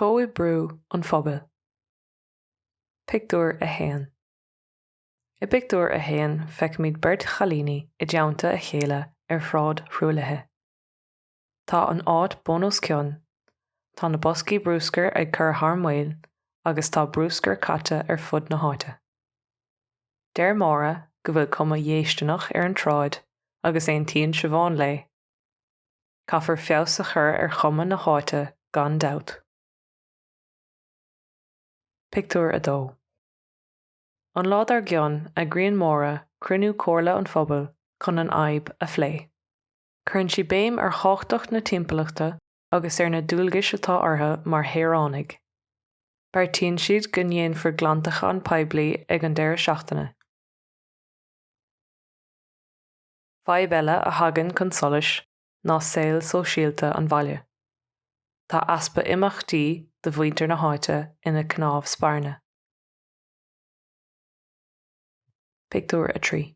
Comhoibriú an Phobail. Pictiúr 1 I bpictiúr a haon feicimid beirt chailíní i dteannta a chéile ar shráid thruaillithe. Tá an áit bun os cionn, tá na boscaí brúscair ag cur thar maoil agus tá brúscar caite ar fud na háite. Deir Máire go bhfuil cuma dhéistineach ar an tsráid agus aontaíonn Siobhán léi. Caithfear feabhas a chur ar chuma na háite gan dabht. Pictiúr 2 An lá dár gcionn, eagraíonn Máire cruinniú Comhairle an Phobail chun an fhadhb a phlé. Cuireann sí béim ar thábhachtacht na timpeallachta agus ar na dualgais atá orthu mar shaoránaigh. Beartaíonn siad go ndéanfar glantachán poiblí ag an deireadh seachtaine. Fadhb eile a thagann chun solais ná saol sóisialta an bhaile. Tá easpa imeachtaí do mhuintir na háite ina cnámh spairne. Pictiúr 3.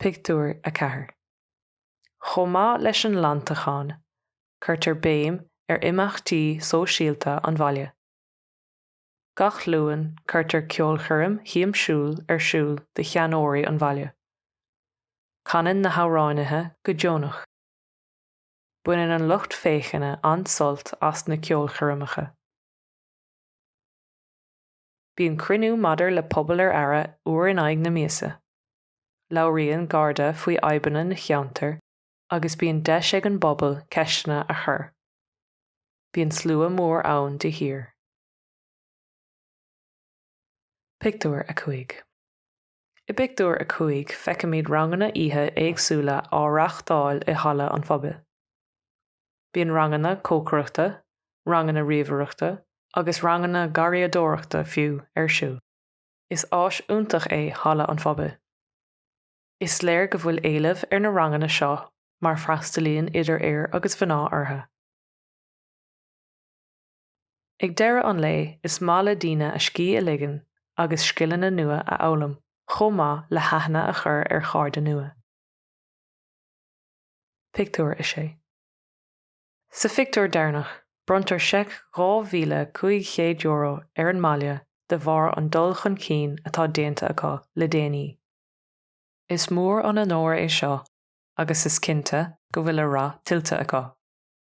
Pictiúr 4 Chomh maith leis an nglantachán, cuirtear béim ar imeachtaí sóisialta an bhaile. Gach Luan cuirtear ceolchoirm shiamsiúil ar siúl do sheanóirí an bhaile. Canann na hamhráinithe go deonach. Baineann an lucht féachana an-sult as na ceolchoirmeacha. Bíonn cruinniú maidir le Pobal ar Aire uair in aghaidh na míosa. Labhraíonn Garda faoi fhadhbanna na cheantar agus bíonn deis ag an bpobal ceisteanna a chur. Bíonn slua mór ann de shíor. Pictiúr 5. I bpictiúr a cúig feicimid ranganna oíche éagsúla á reáchtáil i halla an phobail. Bíonn ranganna cócaireachta, ranganna ríomhaireachta agus ranganna garraíodóireachta fiú, ar siúl. Is áis iontach é halla an phobail. Is léir go bhfuil éileamh ar na ranganna seo mar freastalaíonn idir fhir agus mhná orthu. Ag deireadh an lae, is maith le daoine a scíth a ligean agus scileanna nua a fhoghlaim chomh maith le haithne a chur ar chairde nua. Pictiúr 6 Sa phictiúr deireanach, bronntar seic €2,500 ar an mbaile de bharr an dul chun cinn atá déanta acu le déanaí. Is mór an onóir é seo agus is cinnte go bhfuil a rath tuillte acu.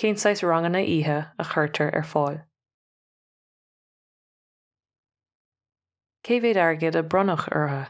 Cén saghas ranganna oíche a chuirtear ar fáil? Cé mhéad airgid a bronnadh orthu?